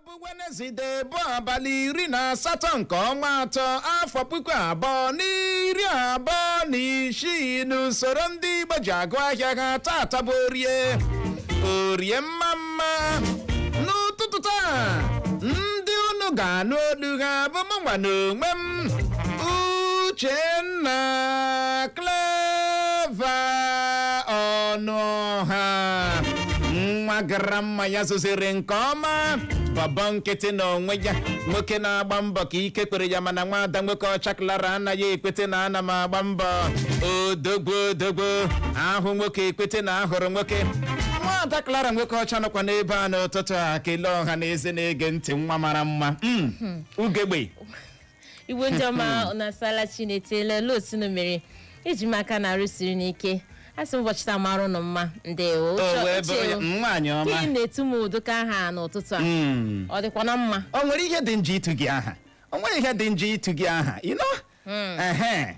bụ Wenezdee bụ abalị iri na asatọ nke ọnwa atọ afọ puku abụọ na iri abụọ na isii n'usoro ndị Igbo ji agụ ahịa ha tata bụ orie orie mma mma n'ụtụtụ taa ndị unu ga-anụ olu ha bụ mụnwa na onwe m Uchenna Clever Ọnụọha nwa gara mma ya zụziri nke ọma bọbọ nkịtị na onwe ya nwoke na-agba mbọ ka ike kwere ya mana nwaada Nwokeọcha Clara anaghị ekwete na ana m agba mbọ odogbo odogbo ahụ nwoke ekwete na ahụrụ nwoke nwaada Clara Nwokeọcha nọkwa n'ebe a n'ụtụtụ a kelee ọha na eze na-ege ntị nwa mara mma Mm, ugegbe igbo ndị ọma unu asala chi unu etela elee o si unu mere eji m aka na arụ siri unu ike a sị m ụbọchị taa mara ụnụ mma ndewo o Uche- wee Uche, bụrụ ya nwaanyị ka ị ọma na-etu m ụdịka aha n'ụtụtụ a Mm. ọ dịkwa na mma o nwere ihe dị njọ itu gị aha o nwere ihe dị njọ itu gị aha you know? Ehe.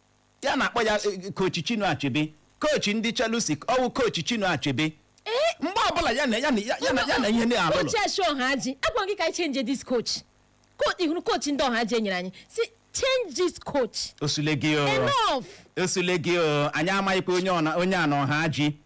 ya na-akpọ ya eh, coach Chinua Achebe coach ndị Chelsea ọ wụ coach Chinua Achebe ee mgbe ọbụla ya na ya na ya na ya na ihe na-alụlụ coach ashi Ọhaji agwa gị ka anyị change this coach Ko- ị hụrụ coach ndị Ọhaji enyere anyị si change this coach o zuole gị o enough o zuole gị o anyị amaghịkwa onye ọ na- onye a na Ọhaji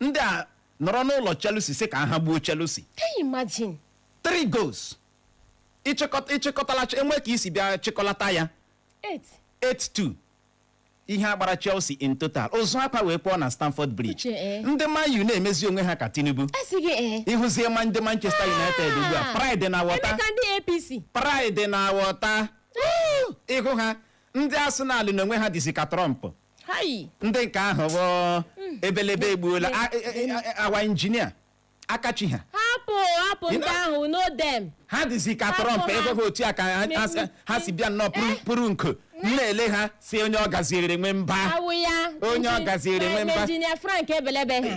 ndị a nọrọ n'ụlọ Chelsea sị ka ha gbuo Chelsea Can you imagine? three goals ịchịkọta ịchịkọtala enwe ka i si bịa chịkọlata ya Eight. 8-2 ihe agbara Chelsea in total ụzụ akwa wee kpọọ na Stamford Bridge Uche, eh. ndị Man U na-emezi onwe ha ka Tinubu A sị gị ee. ị hụzie ma ndị Manchester United ugbu a pride na Ebe water ka ndị APC. pride na water ị hụ ha ndị Arsenal na onwe ha dịzi ka Trump Hai! ndị nke ahụ bụ ebelebe egbuola a- e- e- e- awa injinia Akachi ha Hapụ hapụ You ndị know- ahụ no dem. ha dịzi ka Hapụ Trump ha. ị hụ ha otu a ka ha- ha si- ha si bịa nnọọ pụrụ- pụrụ nko m na-ele ha sị onye ọ gaziere nwe mba Awụ ya. Onye ọ Inji- gaziere nwe mba. Injinia Frank ebelebe ha.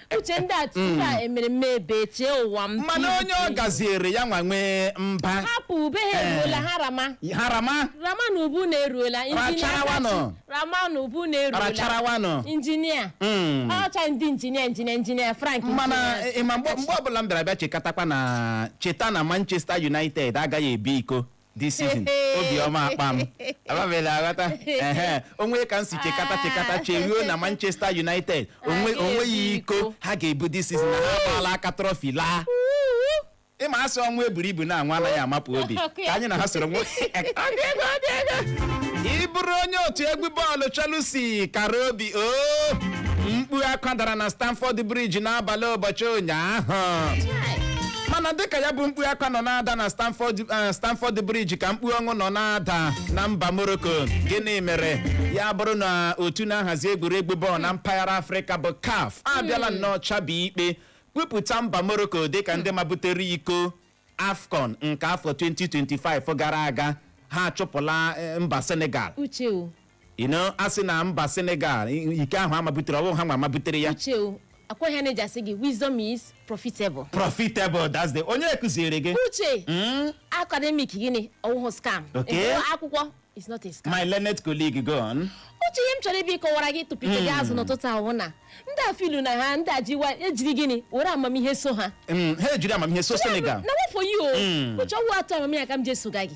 uche ndị a tupu a hmm. emere mme ebe chee ụwa m mana onye ọ gaziere ya nwa nwee mba hapụ ube ha eh. eruola ha rama ha rama rama na ube unu eruola injinia rama na ube unu eruola injinia hmm. ọcha ndị injinia injinia injinia Frank mana eh, eh, mgbe ọbụla m bịara bịa chekatakwa na cheta na Manchester United agaghị ebu iko this season obiọma akpa m ababela aghọta ehe o nwe ka m si chekata chekata cheruo na manchester united onwe Ha onweghị ga-ebu iko iko. ha ga-ebu this season na ha agbaala aka trọfi laa ị ma a sị ọnwa eburu ibu na anwa anaghị amapụ obi ka anyị na ha soro nwe ị bụrụ onye otu egwu bọọlụ Chelsea kara obi o mkpu akwa dara na Stamford Bridge n'abalị ụbọchị ụnyaahụ mana dịka ya bụ mkpu akwa nọ na-ada na Stamford eh, Stamford Bridge ka mkpu ọṅụ nọ na-ada na mba Morocco gịnị mere ya bụrụ na otu na-ahazi egwuregwu bọọlụ na mpaghara Afrịka bụ CAF abịala nnọọ chabi ikpe kwupụta mba Morocco dịka ndị mabutere iko AFCON nke afọ 2025 gara aga ha achụpụla eh, mba Senegal uche o you know a sị na mba senegal i- iko ahụ a mabutere ọ wụ ha ma mabutere ya uche o ọ kwa ihe na-eji asị gị wisdom is profitable profitable that's the onye kụziere gị uche Mm, academic gịnị ọ wụhụ scam Okay. Ịgụ akwụkwọ is not a scam my learned colleague go on uche ihe m chọrọ ịbịa kọwara gị tụpite gị azụ n'ụtụtụ a wụ na ndị a filu na ha ndị a jiwa ejiri gịnị were amamihe so ha Mm, ha ejiri amamihe so senegal na wa for you o Mm. uche ọ wụ atụ amamihe ka m ji esoga gị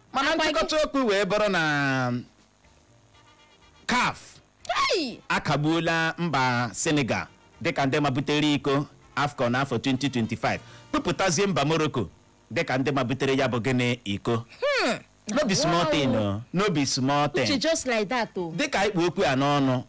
mana Akwa gị- nchịkọta okwu wee bụrụ na caf Hey! akagbuola mba senegal dịka ndị mabutere iko afcon afọ 2025 kpụpụtazie mba morocco dịka ndị mabutere ya bụ gịnị iko no be small thing o, no be small Uche thing just like that o. dịka ị kpụ okwu a n'ọnụ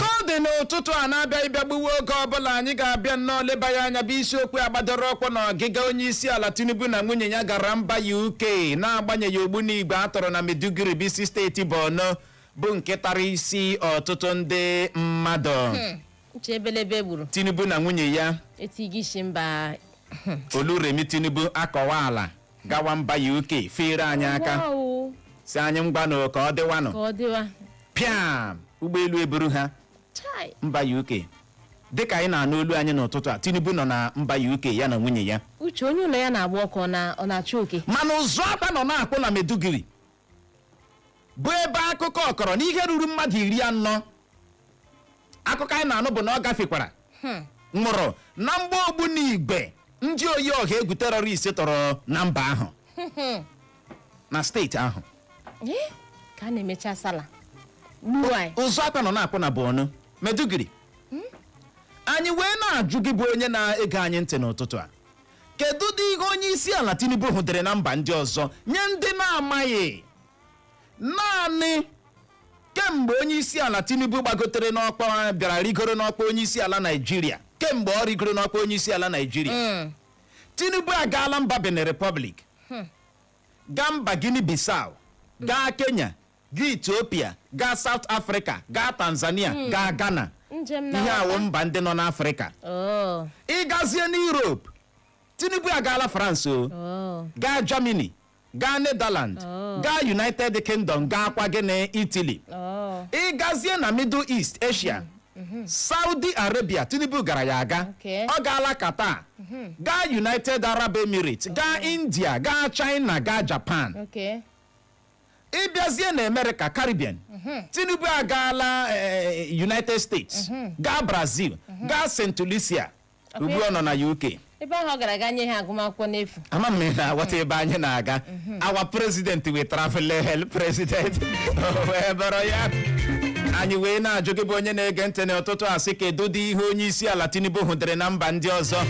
ka ọ dị n'ụtụtụ a na-abịaghị ịbịa gbuwe oge ọbụla anyị ga-abịa nnọọ leba ya anya bụ isiokwu a gbadoro ụkwụ na ọgịga onye isi ala tinubu na nwunye ya gara mba uk na-agbanyeghị ogbunigwe a tọrọ na maiduguri bụ isi steeti borno bụ nke tara isi ọtụtụ ndị mmadụ uche ebelebe gburu tinubu na nwunye ya etighị isi mba oluremi tinubu akọwaala gawa mba uk feere anyị aka Wow, o, si anyị ngwanụ ka ọ dịwanụ ka ọ dịwa pịam ụgbọelu eburu ha chai mba uk dịka anyị na-anụ olu anyị n'ụtụtụ a tinubu nọ na mba uk ya na nwunye ya uche onye ụlọ ya na-agba ọkụ ọ na- ọ na-achụ oke mana ụzụ akwa nọ na-akpụ na maiduguri bụ ebe akụkọ kọrọ na ihe ruru mmadụ iri anọ akụkọ anyị na-anụ bụ na ọ gafekwara nwụrụ na mgba ogbunigwe ndị oyi ọha egwu terọrist tọrọ na mba ahụ na steeti ahụ Ee, ka a na-emecha sala gbuo anyị ụzụ akwa nọ na-akpụ na Borno Maiduguri anyị wee na-ajụ gị bụ onye na-ege anyị ntị n'ụtụtụ a kedụdị ihe onye isi ala Tinubu hụdere na mba ndị ọzọ nye ndị na-amaghị naanị kemgbe onye isi ala tinubu gbagotere n'ọkwa bịara rigoro n'ọkwa onye isi ala naijiria kemgbe ọ rigoro n'ọkwa onye isi ala naijiria Mm. tinubu agaala mba benin republic gaa mba guinea bissau gaa kenya gaa ethiopia gaa south africa gaa tanzania gaa ghana ihe a wụ mba ndị nọ n'afrịka Oh, ịgazie n'europe tinubu agaala france o oh. gaa germany gaa Netherlands oh. gaa United Kingdom gaakwa gịnị Italy oh. ị gazie na Middle East Asia mm-hmm. Saudi Arabia Tinubu gara ya aga ọ gaala Qatar mhm. gaa United Arab Emirates oh. gaa India gaa China gaa Japan ịbịazie na America Caribbean mhm. Tinubu agaala eh, eh, United States mhm. gaa Brazil gaa St. Lucia ugbu a ọ nọ na uk ebe ahụ ọ gara aga nye ha agụmakwụkwọ n'efu ama m na aghọta ebe anyị na-aga our president wey travel hel president wee bụrụ ya anyị wee na-ajụ gị bụ onye na-ege ntị n'ụtụtụ a sị kedu dị ihe onye isi ala tinubu hụdere na mba ndị ọzọ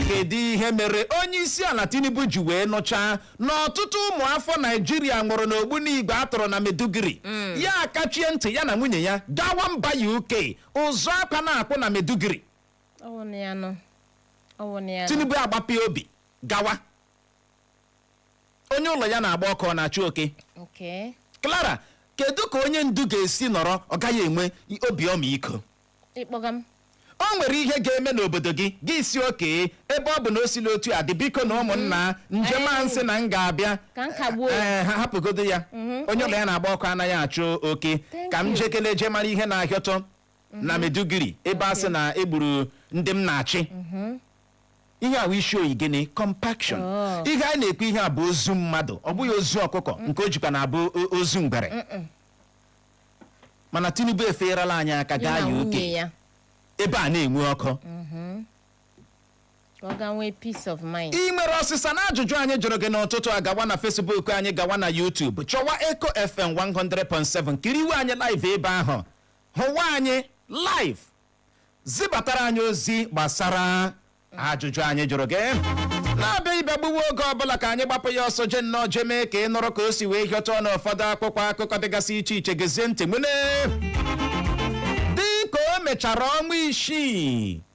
kedu ihe mere onye isi ala tinubu ji wee nụchaa na ọtụtụ ụmụ afọ naijiria nwụrụ n'ogbunigwe a tọrọ na maiduguri ya akachie ntị ya na nwunye ya gawa mba uk ụzụ akwa na-akpụ na maiduguri ọ wụ na ya nọ ọ wụ na ya nọ tinubu agbapịa obi gawa onye ụlọ ya na-agba ọkụ ọ na-achụ oke okay clara kedu ka onye ndu ga-esi nọrọ ọ gaghị enwe i- obi ọmịiko ịkpọga m o nwere ihe ga-eme n'obodo gị gị sị okay ebe ọ bụ na o sila otu a dị biko na ụmụnna njem a m sị na m ga-abịa Ka m kagbuo. Ee, ha hapụgodo ya onye ụlọ ya na-agba ọkụ anaghị achụ oke Thank ka m you. jekele je mara ihe na-ahịọtụ na mhm. Maiduguri ebe a sị na e gburu ndị m na-achị mhm. ihe a wụ ị show gịnị compassion oh. ihe a na-ekwu ihe a bụ ozu mmadụ ọ bụghị ozu ọkụkọ mm. nke o jikwa na-abụ ozu ngwere mana Tinubu efeerala anyị aka gaa UK ebe a na-enwe ọkụ mhm. ị nwere ọsịsa na ajụjụ anyị jụrụ gị n'ụtụtụ a gawa na Facebook anyị gawa na YouTube chọwa Eco FM 100.7 kiriwe anyị live ebe ahụ hụwa anyị live zibatara anyị ozi gbasara ajụjụ anyị jụrụ gị na-abịaghị bịa gbuwe oge ọbụla ka anyị gbapụ ya ọsọ je nnọọ je mee ka ị nụrụ ka o si wee hịọtụ n'ụfọdụ akwụkwọ akụkọ dịgasị iche iche gezie ntị nwune dị ka o mechara ọnwa isii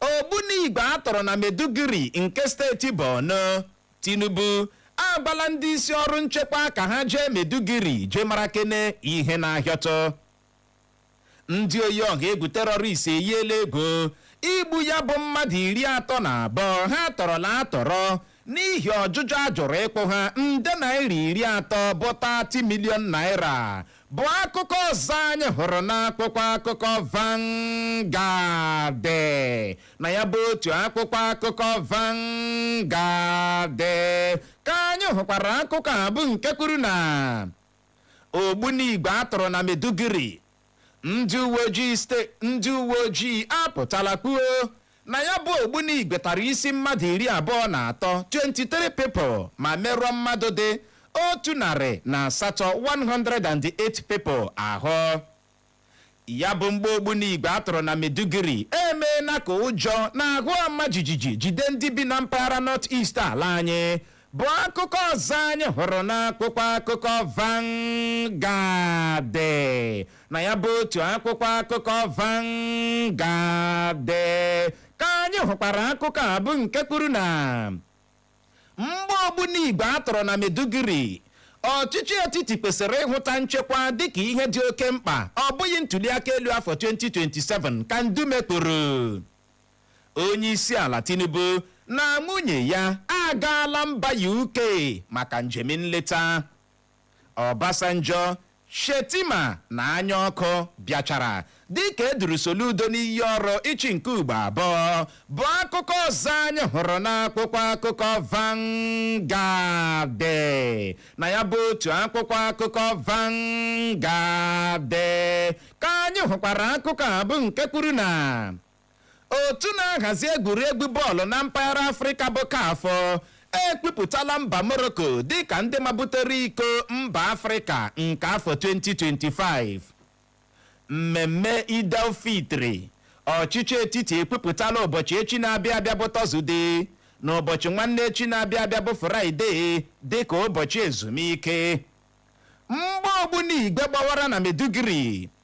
Ogbunigwe a tọrọ na Maiduguri nke steeti Borno. Tinubu agwala ndị isi ọrụ nchekwa ka ha jee Maiduguri jee mara kene ihe na-ahịọtụ. Ndị oyi ọha egwu terọrist eyiela egwu igbu ya bụ mmadụ iri atọ na abụọ ha tọrọla atọrọ n'ihi ọjụjụ a jụrụ ịkwụ ha nde naira iri atọ bụ 30 million naira bụ akụkọ ọzọ anyị hụrụ n'akwụkwọ akụkọ Vanguard na ya bụ otu akwụkwọ akụkọ Vanguard ka anyị hụkwara akụkọ a bụ nke kwuru na ogbunigwe a tụrụ na Maiduguri ndị uwe ojii ndị uwe ojii apụtala kwuo Na ya bụ ogbunigwe tara isi mmadụ iri abụọ na atọ, 23 people, ma merụọ mmadụ dị otu narị na asatọ, 108 people, ahụ. Ya bụ mgba ogbunigwe a tụrụ na Maiduguri emeela ka ụjọ na ahụ ọma jijiji jide ndị bi na mpaghara North East ala anyị bụ akụkọ ọzọ anyị hụrụ n'akwụkwọ akụkọ Vanguard na ya bụ otu akwụkwọ akụkọ Vanguard ka anyị hụkwara akụkọ a bụ nke kwuru na mgba ogbunigwe a tọrọ na Maiduguri ọchịchị etiti kwesịrị ịhụta nchekwa dịka ihe dị oke mkpa ọ bụghị ntuliaka elu afọ 2027 ka Ndume kwuru Onyeisiala Tinubu na nwunye ya agaala mba UK maka njem nleta. Obasanjo, Shettima na Anyaoku bịachara dịka e duru Soludo n'iyi ọrụ ịchị nke ugbo abụọ bụ akụkọ ọzọ anyị hụrụ n'akwụkwọ akụkọ Vanguard na ya bụ otu akwụkwọ akụkọ Vanguard ka anyị hụkwara akụkọ a bụ nke kwuru na Otu na-ahazi egwuregwu bọọlụ na mpaghara Afrịka bụ CAF ekwupụtala mba Morocco dịka ndị mabutere iko mba Afrịka nke afọ 2025. Mmemme Eid al-Fitri ọchịchị etiti ekwupụtala ụbọchị echi na-abịa abịa bụ Tọzụde na ụbọchị nwanne echi na-abịa abịa bụ Fraịde dịka ụbọchị ezumike. Mgba ogbunigwe gbawara na Maiduguri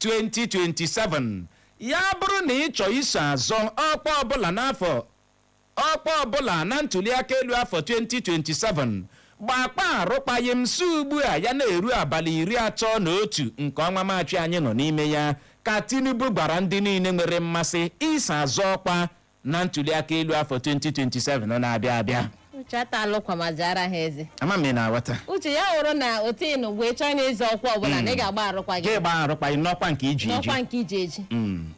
2027 ya bụrụ na ị chọọ iso azọ ọkwa ọbụla na ntuliaka elu afọ 2027 gbakwaa arụkwaghịm si ugbu a ya na-eru abalị iri atọ na otu nke ọnwa Maachị anyị nọ n'ime ya ka Tinubu gwara ndị niile nwere mmasị iso azọ ọkwa na ntuliaka elu afọ 2027 na-abịa abịa uche ata alụkwamazi ara ha eze ama m ị na-aghọta uche ya wụrụ na otu ị nụ wee chọọ ịna ịzọ ọkwa ọbụla na ị ga-agba arụkwaghị gị gbaa arụkwaghị n'ọkwa nke i ji eji n'ọkwa nke i ji eji Mm.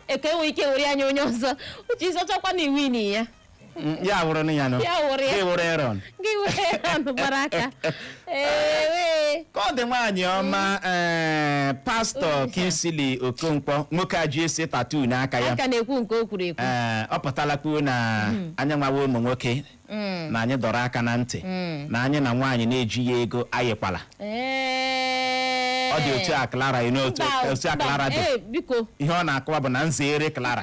eke nwee ike were ya nye onye ọzọ uche ị zọchakwaa na i winighị ya Mm, ya wụrụ na ya nọ Ya wụrụ ya. gị wụrụ Aaron gị were anụ gbara aka Ewe. ka ọ dị nwaanyị ọma ee, pastọ Kingsley okonkwo nwoke a ji ese tattoo n'aka ya Aka na-ekwu nke o kwuru ekwu. ee, ọ pụtala kwuo na anyị nwawa ụmụ nwoke Mm. na anyị dọrọ aka na ntị Mm. na anyị na nwaanyị na-ejighị ego ayịkwala Ee. ọ dị otu a Clara you know otu Mba, otu a mba, Clara dị ee, biko. ihe ọ na-akọwa bụ na m zere Clara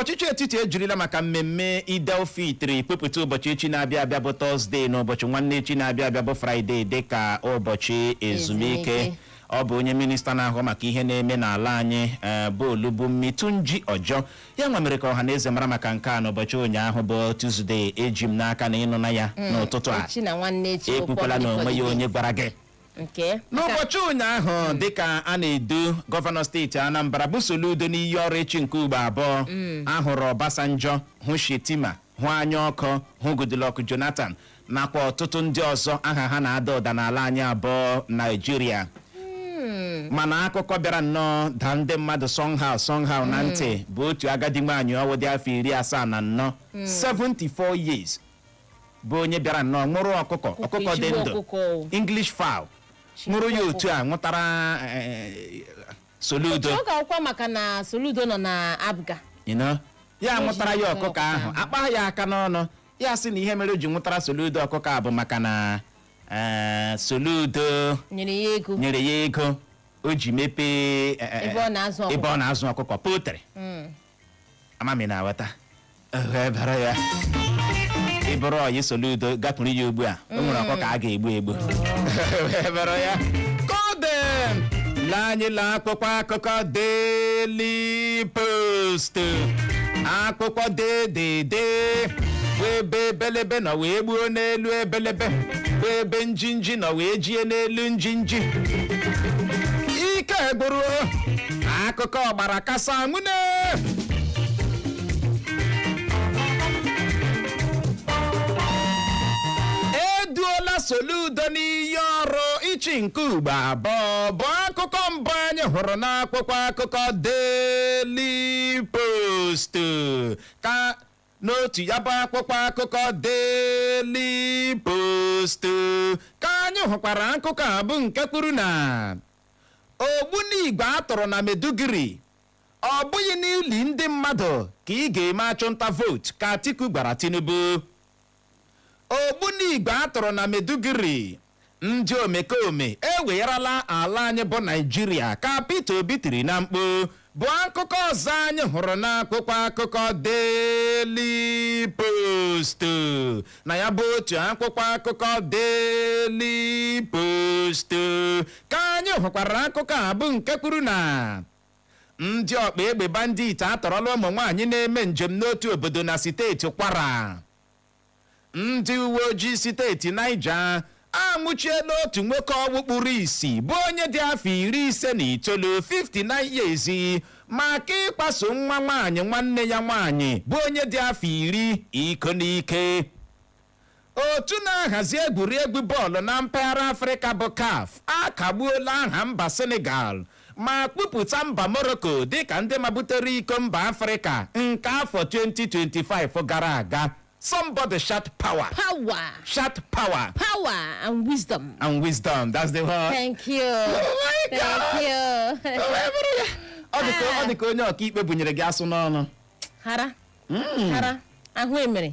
ọchịchị etiti ejirila maka mmemme Eid-el-Fitri kwupụta ụbọchị echi na-abịa abịa bụ tọzdee na ụbọchị nwanne echi na-abịa abịa bụ fraịde dị ka ụbọchị ezumike ọ bụ onye minista na-ahụ maka ihe na-eme n'ala anyị eh, bụ Olubunmi Tunji Ojo ya nwa mere ka ọha na eze mara maka nke a n'ụbọchị ụnyaahụ bụ Tuzdee eji m n'aka na ị nụna ya mm, n'ụtụtụ a ekwukwala na o nweghị onye gwara gị nke n'ụbọchị ụnyaahụ dịka a na-edu gọvanọ steeti anambra bụ soludo n'iyi ọrụ ịchị nke ugbo abụọ a hụrụ ọbasanjọ hụ shettima hụ anyaoku hụ goodluck jonathan nakwa ọtụtụ ndị ọzọ aha ha na-ada ụda n'ala anyị a bụ naijiria mana akụkọ bịara nnọọ daa ndị mmadụ somehow somehow na ntị bụ otu agadi nwaanyị ọwụ dị afọ iri asaa na anọ 74 years bụ onye bịara nnọọ nwụrụ ọkụkọ Ọkụkọ ọkụkọ dị ezigbo ndụ ọkụkọ o. english fowl Chi nwụrụ ya ọkụkọ. otu a nwụtara eh, soludo oke ọkụkọ maka na soludo nọ na APGA you know? ya Ihe nwụtara ji ya nwụtara ọkụkọ ahụ ọkụkọ a kpaa ya aka n'ọnụ ya sị na ihe mere o ji nwụtara soludo ọkụkọ a bụ maka na eh, soludo nyere ya ego nyere ya ego o ji mepee eh, eh, Ebe ọ na-azụ ọkụkọ. ebe ọ na-azụ ọkụkọ poultry Mm. ama m ị na-aghọta Ehe, ebere ya ị bụrụ ọyị soludo gakwuru ya ugbu a o nwere ọkụkọ a ga-egbu egbu ebere ya kodem lee anyị lee akwụkwọ akụkọ Daily Post akwụkwọ dedede bụ ebe ebelebe nọ wee gbuo n'elu ebelebe bụ ebe njinji nọ wee jie n'elu njinji ike gwụrụ akụkọ ọgbara kasa nwune e duola soludo n'iyi ọrụ ịchị nke ugbo abụọ bụ akụkọ mbụ anyị hụrụ n'akwụkwọ akụkọ Daily Post ka n'otu ya bụ akwụkwọ akụkọ Daily Post ka anyị hụkwara akụkọ a bụ nke kwuru na Ogbunigwe a tụrụ na Maiduguri, Ọ bụghị n'ili ndị mmadụ ka ị ga-eme achụnta vootu, ka Atiku gwara Tinubu. Ogbunigwe a tụrụ na Maiduguri, Ndị omekome ewegharala ala anyị bụ Naịjirịa, ka Peter Obi tiri na mkpu. bụ akụkọ ọzọ anyị hụrụ n'akwụkwọ akụkọ Daily Post na ya bụ otu akwụkwọ akụkọ Daily Post ka anyị hụkwara akụkọ a bụ nke kwuru na ndị ọkpa egbe bandit atọrọla ụmụ nwaanyị na-eme njem n'otu obodo na steeti Kwara Ndị uweojii steeti Niger anwụchiela otu nwoke ọnwụ kpuru isi bụ onye dị afọ iri ise na itoolu 59 years maka ịkwaso nwa nwaanyị nwanne ya nwaanyị bụ onye dị afọ iri iko n'ike. Otu na-ahazi egwuregwu bọọlụ na mpaghara Afrịka bụ CAF akagbuola aha mba Senegal ma kwupụta mba Morocco dịka ndị mabutere iko mba Afrịka nke afọ 2025 gara aga. Somebody shout power. Power. Shout power. Power and wisdom. And wisdom. That's the word. Thank you. Oh my Thank God. Thank you. Oh, ọ dị ka onye ọkaikpe bụnyere gị asụ n'ọnụ. Hara. Hmm. Hara. Ahụ emere.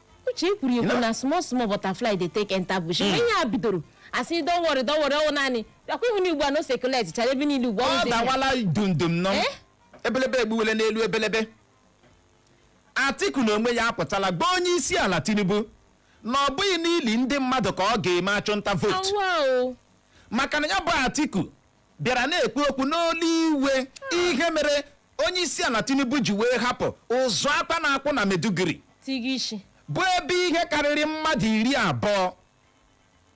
uche e kwuru ekwu na small small butterfly dey take enter bush hmm. ihe a bidoro asị don worry don worry ọwụ naanị bịakwa ihu n'ugbu a na ọ circulate chara ebe niile ugbu ọ dawala dundum nọ eh? ebelebe egbuwele n'elu ebelebe atiku na onwe ya apụtala gwa onye isi ala tinubu na ọ bụghị n'ili ndị mmadụ ka ọ ga-eme achụnta vootu maka na ya bụ atiku bịara na-ekwu okwu n'olu iwe ihe mere onye isi ala Tinubu ji wee hapụ ụzụ akwa na-akwụ na Maiduguri Tigishi. bụ ebe ihe karịrị mmadụ iri abụọ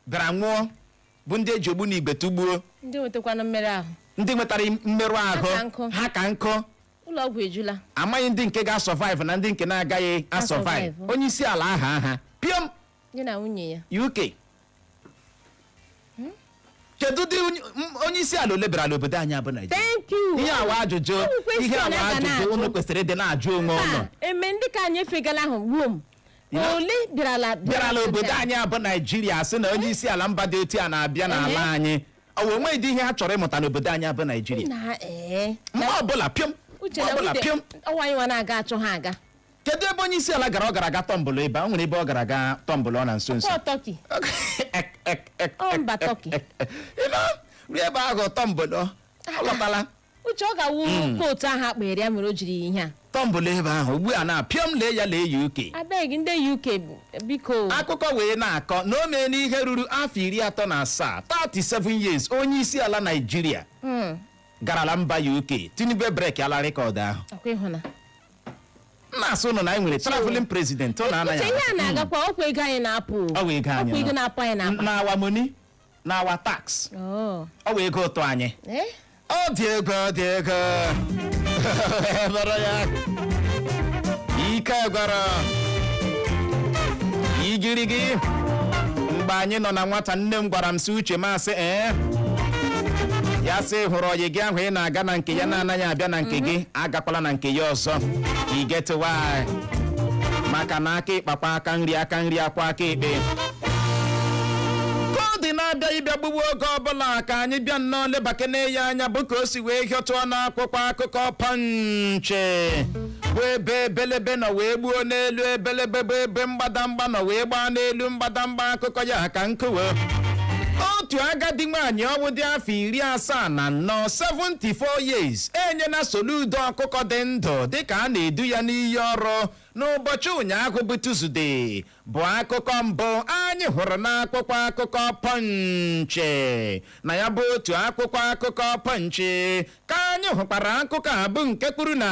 bịara nwụọ bụ ndị eji ogbunigwe tụgbuo Ndị nwetakwana mmerụ ahụ. ndị nwetara mmerụ ahụ ka nkụ. ha ka nkụ Ụlọ ọgwụ ejula. amaghị ndị nke ga-asurvive na ndị nke na-agaghị asurvive Asurvive. onye isi ala aha aha piom Ya na nwunye ya. UK kedu dị onye- m- onye isi ala ole bịarala obodo anyị abụ naijiria thank you ihe a wụ ajụjụ Ọ bụ question ihe awa a ga ajụjụ na-ajụ. unu kwesịrị ịdị na-ajụ onwe unu Taa, eme ndị ka anyị efegala ahụ gbuo m Ya. ole bịarala bịara n'obodo anyị abụ naijiria sị na onye isi ala mba dị otu a na-abịa n'ala anyị ọ wee nwee dị ihe ha chọrọ ịmụta n'obodo anyị abụ naijiria na ee mgbe ọbụla pịọm uche mgbe na ọbụla ude pịọm ọ wụ anyị nwa na-aga achọ ha aga kedu ebe onye isi ala gara ọ gara aga tọmbụlụ ebe a? o nwere ebe ọ gara aga tọmbụlụọ na nso nso Ọkwa Turkey. Ọ mba Turkey. ịnọ ruo ebe ahụ tọmbụlụọ lọtala uche ọ ga-awụ kootu ahụ a kpanyere ya mere o jiri ihe a tọmbụlụ ebe ahụ ugbu a na pịọm lee ya lee ya UK abeg ndị UK bụ- biko akụkọ wee na-akọ na o meena ihe ruru afọ iri atọ na asaa 37 years onye isi ala Naịjirịa Mm, garala mba UK Tinubu breakịala record ahụ ọkwa ị hụna na-asị ụnụ na anyị nwere traveling president ọ na-anaghị uche ihe a na-agakwa ọkwa ego anyị na-apụ Ọ bụ ego anyị ọkwa ego na- na-apụ anyị na-apụ na our money na our tax Oh. ọ bụ ego ụtụ anyị Eh? ọ dị egwu ọ dị egwu Ebere ya ike gwara igirigi mgbe anyị nọ na nwata nne m gwara m sị Uche m asị ee ya sị ị hụrụ ọyị gị ahụ ị na-aga na nke ya na-anaghị abịa na nke gị agakwala na nke ya ọzọ i get why maka na aka ekpe kwọọ aka nri aka nri akwọọ aka ekpe ka ọ dị na-abịa ịbịa gbugbu oge ọbụla ka anyị bịa nnọọ lebakene ya anya bụ ka o si wee hịọtụọ n'akwụkwọ akụkọ Punch bụ ebe ebelebe nọ wee gbuo n'elu ebelebe bụ ebe mgbadamgba nọ wee gbaa n'elu mgbadamgba akụkọ ya ka nkọwa otu agadi nwaanyị ọnwụ dị afọ iri asaa na anọ 74 years enyela Soludo ọkụkọ dị ndụ dịka a na-edu ya n'iyi ọrụ n'ụbọchị ụnyaahụ bụ Tuzde bụ akụkọ mbụ anyị hụrụ n'akwụkwọ akụkọ Punch na ya bụ otu akwụkwọ akụkọ Punch ka anyị hụkwara akụkọ a bụ nke kwuru na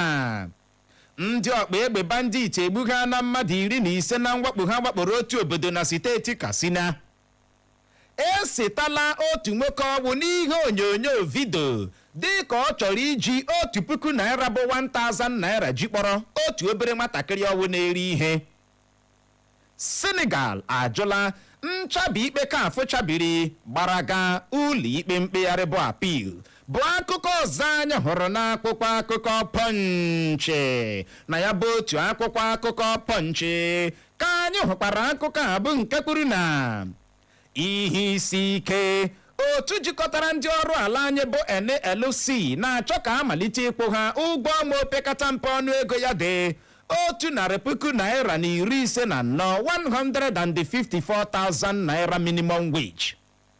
ndị ọkpa egbe bandit egbughana mmadụ iri na ise na mwakpo ha wakporo otu obodo na steeti Katsina esetala otu nwoke ọnwụ n'ihe onyonyo vidio dịka ọ chọrọ iji otu puku naira bụ 1000 naira ji kpọrọ otu obere nwatakịrị ọnwụ na-ere ihe. Senegal ajụla nchabi ikpe CAF chabiri gbara ga ụlọikpe mkpegharị bụ appeal bụ akụkọ ọzọ anyị hụrụ n'akwụkwọ akụkọ Punch na ya bụ otu akwụkwọ akụkọ Punch ka anyị hụkwara akụkọ a bụ nke kwuru na ihe isi ike otu jikọtara ndị ọrụ ala anyị bụ NLC na-achọ ka a malite ịkwụ ha ụgwọ ọnwa opekata mpe ọnụ ego ya dị otu narị puku naira na iri ise na anọ 154,000 naira minimum wage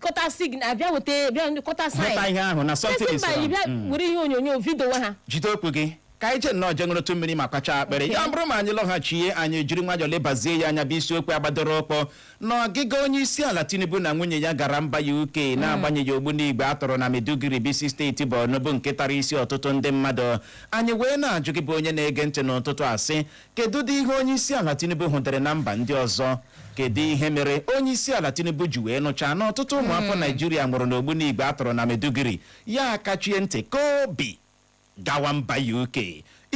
kọta sign abịa weta bịa ndị kọta sign hụta ihe ahụ na something Person is by wrong. bịa Mm. were ihe onyonyo vidowe ha jide okwu gị ka anyị jee nnọọ jee ṅụrụtụ mmiri ma kwachaa akpịrị ya bụrụ ma anyị lọghachie anyị jiri nwayọọ lebazie ya anya bụ isiokwu agbadoro ụkwụ na ọgịga onye isi ala tinubu na nwunye ya gara mba uk na-agbanyeghị ogbunigwe a tọrọ na maiduguri bụ isi steeti borno bụ nke tara isi ọtụtụ ndị mmadụ anyị wee na-ajụ gị bụ onye na-ege ntị n'ụtụtụ a sị Kedụdị ihe Onyeisiala Tinubu hụdịrị na mba ndị ọzọ? Kedụ ihe mere Onyeisiala Tinubu ji wee nụchaa na ọtụtụ ụmụafọ Naịjirịa nwụrụ n'ogbunigwe a tụrụ na Maiduguri, ya akachie ntị kaa obi gawa mba UK?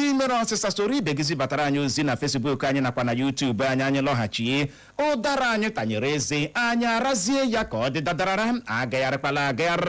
Ị nwere ọsịsa soro ibe gị zibatara anyị ozi na Facebook anyị nakwa na YouTube anyị anyị lọghachie ụdara anyị tanyere eze anyị arazie ya ka ọ dị dadarara agagharịkwala agagharị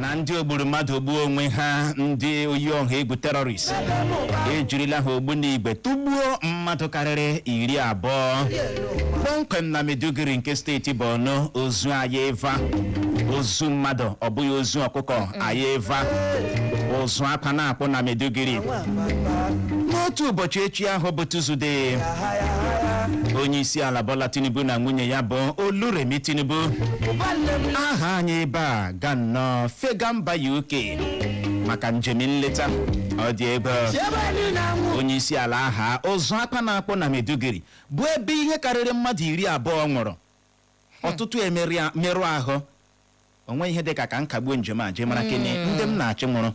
na ndị ogburu mmadụ ogbuo onwe ha ndị oyi ọha egwu terrorist ejirila ha ogbunigwe tụgbuo mmadụ karịrị iri abụọ kpọmkwem na Maiduguri nke steeti Borno ozu ayeva ozu mmadụ ọ bụghị ozu ọkụkọ ayeva ụzụ akwa na-akpụ na Maiduguri n'otu ụbọchị echi ahụ bụ Tuzdee onye isi ala Bola Tinubu na nwunye ya bụ Oluremi Tinubu aha anyị ebe a ga nnọọ fega mba UK maka njem nleta ọ dị ebe onye isi ala aha ụzụ akwa na-akpọ na Maiduguri bụ ebe ihe karịrị mmadụ iri abụọ nwụrụ ọtụtụ emerụ ahụ o nweghị ihe dị ka ka m kagbuo njem a jee mara kene ndị m na-achị nwụrụ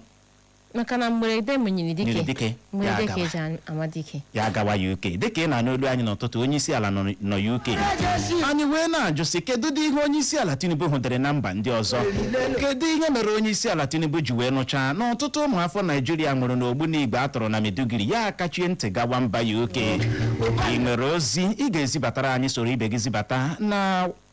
maka na mgberede nyiri dike Nyiri dike, ya mgberede ka agawa. eji an- ama dike ya gawa uk dịka ị na-anụ olu anyị n'ụtụtụ onye isi ala nọ na uk anyị wee na-ajụ sị kedu dị ihe onye isi ala tinubu hụdịrị na mba ndị ọzọ kedu ihe mere onye isi ala tinubu ji wee nụchaa na ọtụtụ ụmụafọ naijiria nwụrụ n'ogbunigwe a tọrọ na maiduguri ya akachie ntị gawa mba uk ị nwere ozi ị ga-ezibatara anyị soro ibe gị zibata na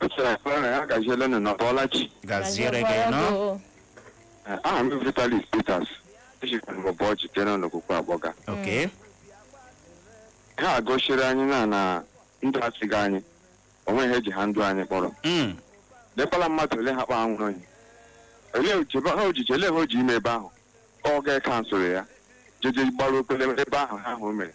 Echara ekpere na ya gaziele nụ na Bọlachi. gaziere gị nọ Eh, Aha m bụ Vitalis Peters. Echikwa m ụbọ ọchị jere n'okwukwe agbọga. oke Ha gosiri anyị na na ndụ asịghị anyị. O nweghị ihe ji ha ndụ anyị kpọrọ. Mm, Lekwala mmadụ ole ha kpa anwụrụ anyị. Olee oji ebe ha ojiji olee ha oji ime ebe ahụ? Ọ ga-ekansụrụ ya. Jeje gbara okpele ebe ahụ ha ahụ mere.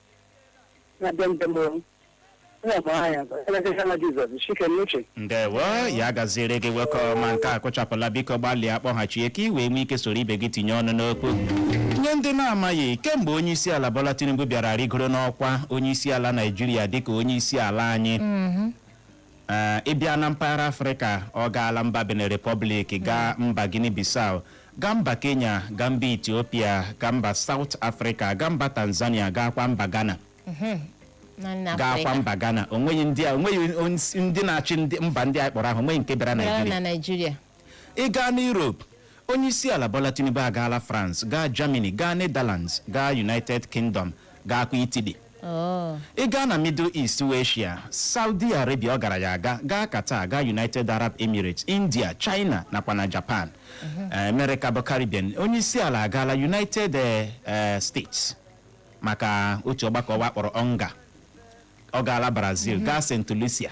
na be ndị mụrụ m. Onye bụ aha ya bụ Elekere na Jizọs Chike n'uche. ndewo ya gaziere gị nwoke ọma nke a kụchapụla biko gbalịa kpọghachie ka ị wee nwee ike soro ibe gị tinye ọnụ n'okwu nye ndị na-amaghị kemgbe onye isi ala Bola Tinubu bịara rigoro n'ọkwa onye isi ala Naijiria dịka onye isi ala anyị Ee, ị bịa na mpaghara afrịka ọ gaala mba Benin Republic gaa mba guinea bissau gaa mba kenya gaa mba Ethiopia gaa mba South Africa gaa mba tanzania gaakwa mba ghana na nna gaakwa Afrịka. mba ghana onweghị ndị a onweghị onye- ndị na-achị ndị- mba ndị a kpọrọ ahụ onweghị nke bịara Bịara naijiria na Naịjirịa. ị gaa na Europe onye isi ala Bola Tinubu agaala France gaa Germany gaa Netherlands gaa United Kingdom gaakwa Italy Oh. ị gaa na Middle East wee Asia Saudi Arabia ọ gara ya aga gaa Qatar gaa United Arab Emirates India China nakwa na Japan Eh, America bụ Caribbean onye isi ala agaala United eh, eh, States maka otu ọgbakọ ụwa a kpọrọ UNGA ọ gaala Brazil gaa St Lucia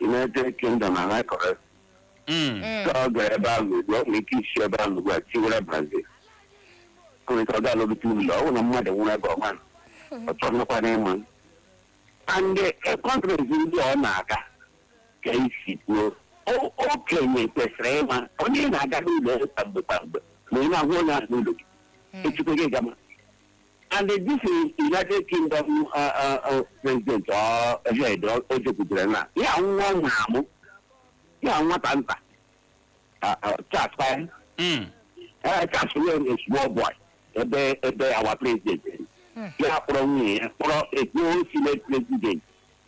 United Kingdom a na-akọ. Mm. Ka ọ gara ebe ahụ ugbu a, ọ nwere ike isi ebe ahụ ugbu a tiwara Brazil. Ọ nwere ike ọ ga-alọbite ụlọ ọ bụrụ na mmadụ nwụrụ ebe ọ manụ. ọ chọrọkwanụ ịma. And the countries ndị ọ na-aga ka i si kwuo o- okenye kwesịrị ịma onye ị na-aga n'ụlọ ya kwa mgbe kwa mgbe ma ị na-ahụ onye ahụ n'ụlọ gị echukwu gị gama And uh, this is United Kingdom uh, uh, uh, president or head o o jekwutere na ya nwa ọ mụrụ amụ ya nwata nta uh, uh, Charles kwanụ Mm. uh, Charles kwanụ is small boy ebe ebe our president ya kpọrọ nwunye ya kpọrọ ekpo senate president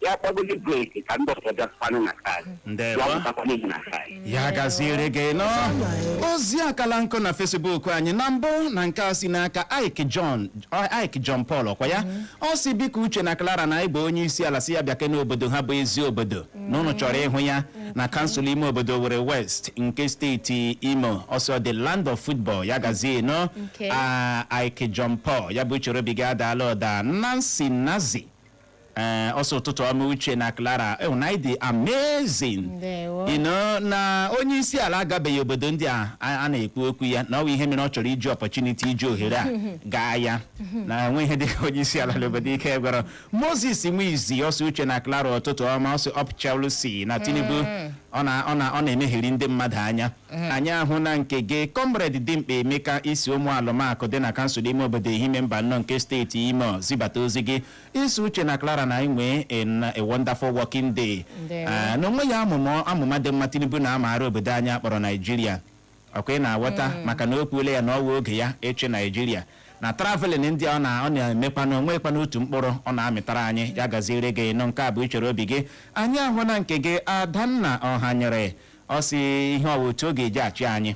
ya kpọgodi brake ka ndị ọzọ bịakwanụ na nke anyị ya ndewo pụtakwana ihu na nke anyị ya gaziere gị nọ ozi akala nkụ na Facebook anyị na mbụ na nke a si n'aka ike john ike john paul ọ kwa ya ọ sị biko uche na clara na ị hụ onye isi ala sị ya bịake n'obodo ha bụ Eziobodo na ụnụ chọrọ ịhụ ya na kansụl ime obodo Owerri West nke steeti imo ọ sị the land of football ya gazie nọ Okay. a ike john paul ya bụ uche obi gị adaala ụda nancy nazi ee eh, ọ sị ụtụtụ ọma uche na Clara eh, na ọ dị amazing you know na onye isi ala agabeghị obodo ndị a a na-ekwu okwu ya na ọ bụ ihe mere ọ chọrọ iji opportunity iji ohere a gaa ya na enwe ihe dịka onye isi ala n'obodo ike gwụrụ Moses Nwizi ọ sị Uche na Clara ụtụtụ ọma ọ sị up Chelsea na Tinubu mm. ọ na-emegheri ndị mmadụ anya mm. anyị ahụna nke gị Comrade Dimkpa Emeka i si Umualumaku dị na kansụl ime obodo Ehime Mbano nke steeti imo zibata ozi gị ị sị Uche na Clara na anyị nwee a wonderful working day ah, na o nweghị amụma dị mma Tinubu na-amaara obodo anyị a kpọrọ Naijiria ọ kwa ị na-aghọta mm. maka na o kwuole ya na ọ wụ oge ya ịchị Naijiria na traveling ndị ọ na-emekwa na o nwekwanụ otu mkpụrụ ọ na-amịtara anyị ya gaziere gị nụ nke a bụ uche obi gị anyị ahụna nke gị Adanna Ọhanyere ọ sị ihe ọ wụ otu oge e ji achị anyị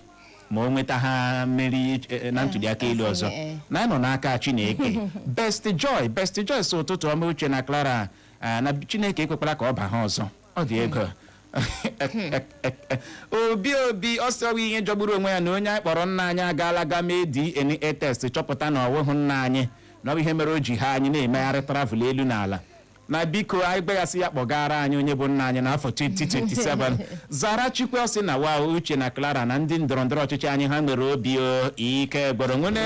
ma o nweta ha mmeri eh, na ntuliaka elu ọzọ eh. na anyị nọ n'aka Chineke Best Joy Best Joy sị ụtụtụ ọma Uche na Clara ah, na Chineke ekwekwala ka ọ ba ha ọzọ ọ dị egwu Obi Obi ọ sị ọ wụ ihe jọgburu onwe ya na onye anyị kpọrọ nna anyị agaala ga mee DNA test chọpụta na ọ wụhụ nna anyị na ọ bụ ihe mere o ji ha anyị na-emegharị travel elu na ala na biko anyị gbaghasị ya kpọgara anyị onye bụ nna anyị n'afọ 2027 Zara Chikwe ọ sị na wa Uche na Clara na ndị ndọrọ ndọrọ ọchịchị anyị ha nwere obi o ike gwụrụ nwene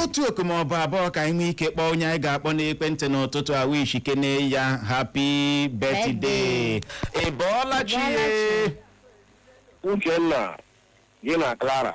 otu oku ma ọ bụ abụọ ka anyị nwee ike kpọọ onye anyị ga-akpọ n'ekwentị n'ụtụtụ a wish kene ya happy birthday ị bọọla chi Bọọla chi. Uchenna gị na Clara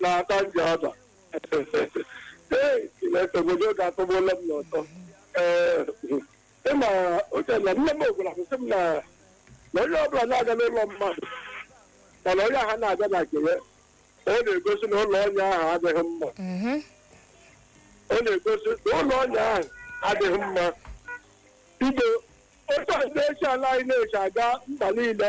na-ata Njaba ee Chineke obodo oge atọgbuola m n'ọtọ ee ị ma Uche na nne m gwara m sị m na na onye ọbụla na-aga n'ụlọ mmadụ mana onye ahụ na-aga na nke ya ọ na-egosi na ụlọ onye ahụ adịghị mma Mhm. ọ na-egosi na ụlọ onye ahụ adịghị mma i lee otu onye isi ala anyị na-esi aga mba niile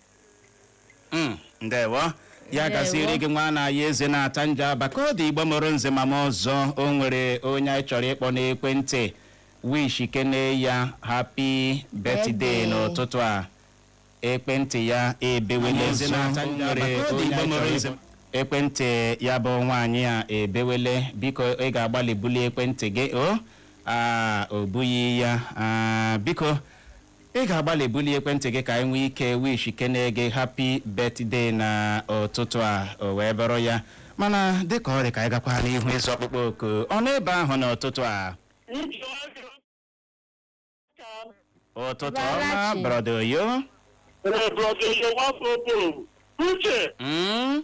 Mm, ndewo ya Ndewo. gaziere gị nwa na ya eze na-ata Njaba ka ọ dị Igbo mụrụ nze ma mụọ ọzọ o nwere onye anyị chọrọ ịkpọ n'ekwentị wish kene ya happy birthday Birthday. n'ụtụtụ a ekwentị ya ebewele ekwentị ya bụ nwaanyị a ebewele biko ị ga-agbalị bulie ekwentị gị o a ọ bụghị ya Ah, biko ị ga-agbalị bulie ekwentị gị ka anyị nwee ike wish kene gị happy birthday na ụtụtụ a o wee bụrụ ya mana dịka ọ dị ka anyị gakwa n'ihu ịza ọkpụkpọ oku unu ebe ahụ n'ụtụtụ a ụtụtụ ọma Bọọla chi. brọda Oyo Ee, brọda Oyo, nwafọ Oboro. Uche, Mm,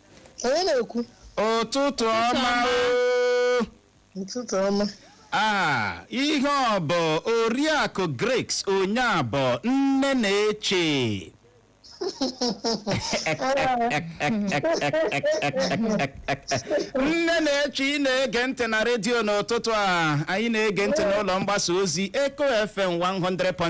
onye na-ekwu ụtụtụ ọma ọma. o ụtụtụ ọma Ah, ihe ọ bụ oriakụ Grace Onyeabọ nne na-eche nne na-eche ị na-ege ntị na redio n'ụtụtụ a ị na-ege ntị n'ụlọ mgbasa ozi Eko FM 100.7